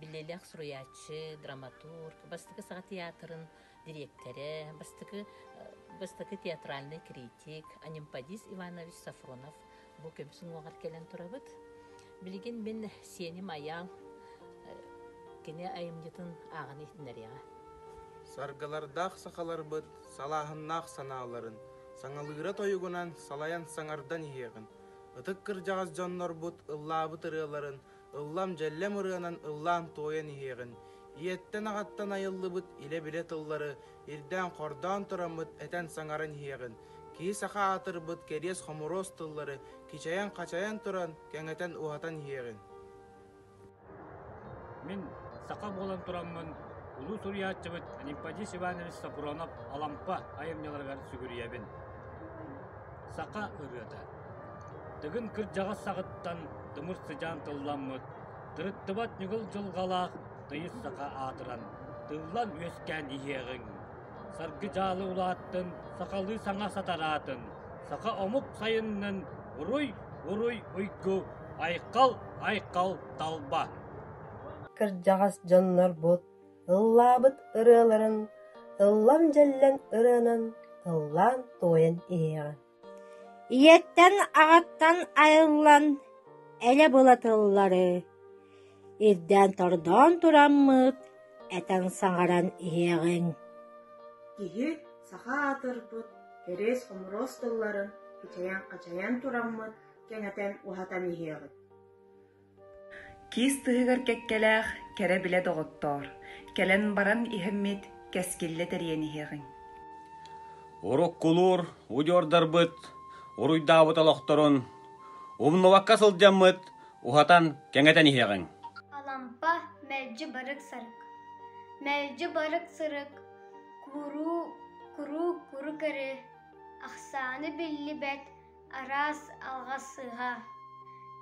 биллиилээх суруйааччы, драматург, бастакы саха театрын дириэктэрэ, бастакы, бастакы театральный критик Анемподис Иванович Сафронов бу көмсүн уоҕар кэлэн турабыт. Билигин мин сеним аял кини айымньытын ааҕан иһиннэриэҕэ. Саргылардаах сахаларбыт салааһыннаах санааларын Саҥалыыра тойугунан салайан саҥардан иһиэҕин. Ытык кырдьаҕас дьоннорбут ыллаабыт ырыаларын ыллам-дьэллэм ырыанан ыллаан-туойан иһиэҕин. Ийэттэн-аҕаттан айыллыбыт илэ-билэ тыллары ирдээн-хордоон тураммыт этэн-саҥаран иһиэҕин. Киһи саха аатырбыт кэриэс-хомуруос тыллары кичэйэн-хачайан туран, кэҥэтэн-уһатан иһиэҕин. Мин саха буолан тураммын улуу суруйааччыбыт Анемподист Иванович Сафронов-Алампа айымньыларыгар сүгүрүйэбин. Саха ырыата Тыгын кырдьаҕас саҕыттан тымыр сыдьаан тылламмыт, тырыттыбат ньыгыл дьылҕалаах тыйыс саха аатыран, тыллан-үөскээн иһиэҕиҥ. Саргы дьаалы улааттын, сахалыы саҥа сатараатын, саха омук сайыннын, уруй-уруй уйгу, айхал-айхал талба! Кырдьаҕас дьоннорбут ыллаабыт ырыаларын ыллан-дьэллэн ырыанан ыллаан-туойан иһиэҕиҥ. Ийэттэн, аҕаттан айыллан элэ былатыллары ирдээн-тордоон тураммыт этэн саҥаран иһиэҕиҥ Киһи саха аатырбыт кэриэс-хомуруос тылларын кичэйэн-хачайан тураммыт кэҥэтэн уһатан иһиэҕит Киис тыһыгар кэккэлээх кэрэ билэ доҕоттоор, кэлэн баран иһиммит кэскиллэ тэрийэн иһиэҕиҥ Уруккулуур удьуордарбыт уруйдаабыт олохторун умнубакка сылдьаммыт уһатан кэҥэтэн иһиэҕиҥ Алампа мэлдьи барык-сарык Мэлдьи барык-сырык Куруу куруу куру-көрү Ахсааны биллибэт араас алҕас сыыһа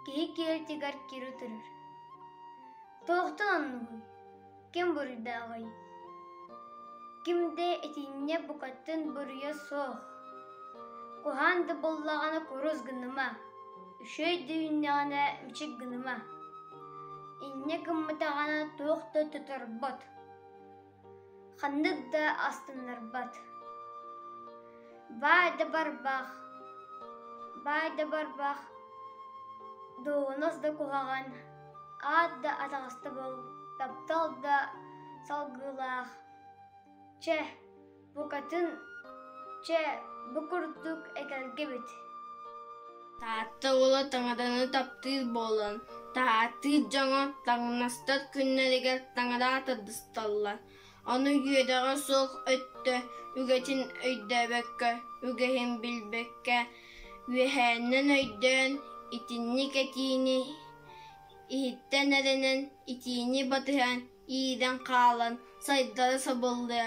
киһи киэлтигэр кири турар туохтан оннугуй ким буруйдааҕый ким да итиннэ букаттан буруйа суох куһаан да буоллаҕына курус гыныма үчүгэй дүйүннэҕинэ мичик гыныма инньэ гыммытаҕына туох да тоторбот Ханнык да астыннарбат. Баай да барбах, баай да барбах, дуоһунас да куһаҕан, аат да атаҕастабыл, таптал да салгыылаах. Чэ, Букатын чэ бу курдук экэлгибит Таатта уола таҥаданы таптыыр буолан, таһаартыыр дьоҥо таҥнастар күннэригэр таҥараа тардысталлар. Ону үөдэҕэ суох өттө үгэтин өйдөөбөккө, үгэһин билбэккэ, үөһээннэн өйдөөн, итинник этиини иһиттэн эрэнэн, итиини батыһан иирэн хаалан сайдара сабыллыа